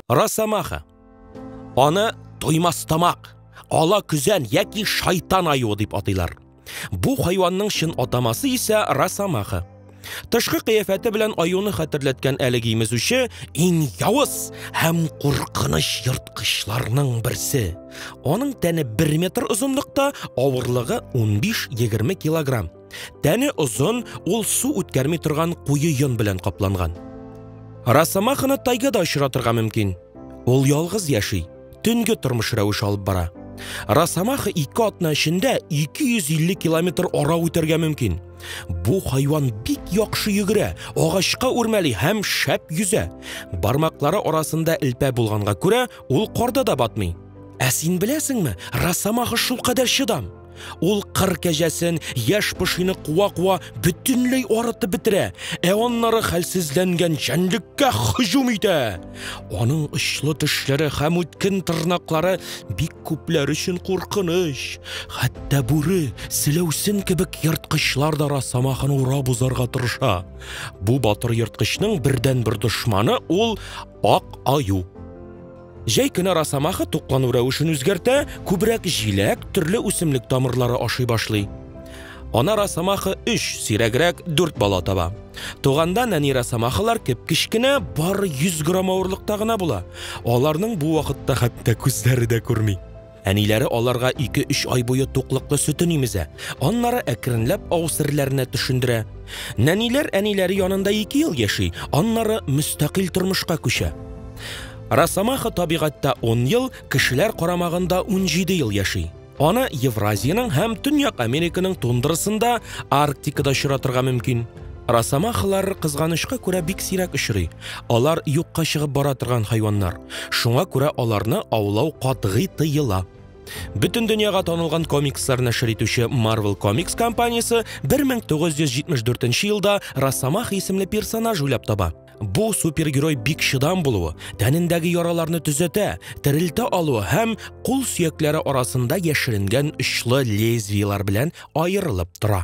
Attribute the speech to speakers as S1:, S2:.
S1: Росомаха. Аны туймас тамак, ала көзән яки шайтан аюы дип атыйлар. Бу хайванның чын атамасы исә Росомаха. Тышкы кыяфәте белән аюны хәтерләткән әлеге имезүче иң явыз һәм куркыныч ерткычларның берсе. Аның тәне 1 метр озынлыкта, авырлыгы 15-20 килограмм. Тәне озын, ул су үткәрми торган куе йон белән капланган. Росомаханы тайгада очратырга мөмкин. Ул ялгыз яши. төнге тормыш рәвеше алып бара. Росомаха ике атна эчендә 250 километр ара үтәргә мөмкин. Бу хайван бик яхшы йөгерә, агачка үрмәли һәм шәп йөзә. Бармаклары арасында элпә булганга күрә, ул корда да батмый. Ә син беләсеңме, росомаха шулкадәр чыдам! Ул кыр кәҗәсен, яшь пошины куа-куа бөтенләй арытып бетерә, ә аннары хәлсезләнгән җәнлеккә һөҗүм итә. Аның очлы тешләре һәм үткен тырнаклары бик күпләр өчен куркыныч. Хәтта бүре, селәүсен кебек ерткычлар да росомаханы урап узарга тырыша. Бу батыр ерткычның бердәнбер дошманы ул ак аю. Җәй көне росомаха туклану рәвешен үзгәртә, күбрәк җиләк, төрле үсемлек тамырлары ашый башлый. Ана росомаха 3, сирәгрәк 4 бала таба. Туганда нәни росомахалар кеп-кечкенә, бары 100 грамм авырлыкта гына була. Аларның бу вакытта хәтта күзләре дә күрми. Әниләре аларга ике-өч ай буе туклыклы сөтен имезә, аннары әкренләп авыз серләренә төшендерә. Нәниләр әниләре янында ике ел яши, аннары мөстәкыйль тормышка күчә. Росомаха табигатьтә 10 ел, кешеләр карамагында 17 ел яши. Аны Евразиянең һәм Төньяк Американың тундрасында, Арктикада очратырга мөмкин. Росомахалар кызганычка күрә бик сирәк очрый. Алар юкка чыгып бара торган хайваннар. Шуңа күрә аларны аулау катгый тыела. Бөтен дөньяга танылган комикслар нәшер итүче Marvel Comics компаниясе 1974 елда Росомаха исемле персонаж уйлап таба. Бу супергерой бик чыдам булуы, тәнендәге яраларны төзәтә, терелтә алуы һәм кул сөякләре арасында яшеренгән очлы лезвиелар белән аерылып тора.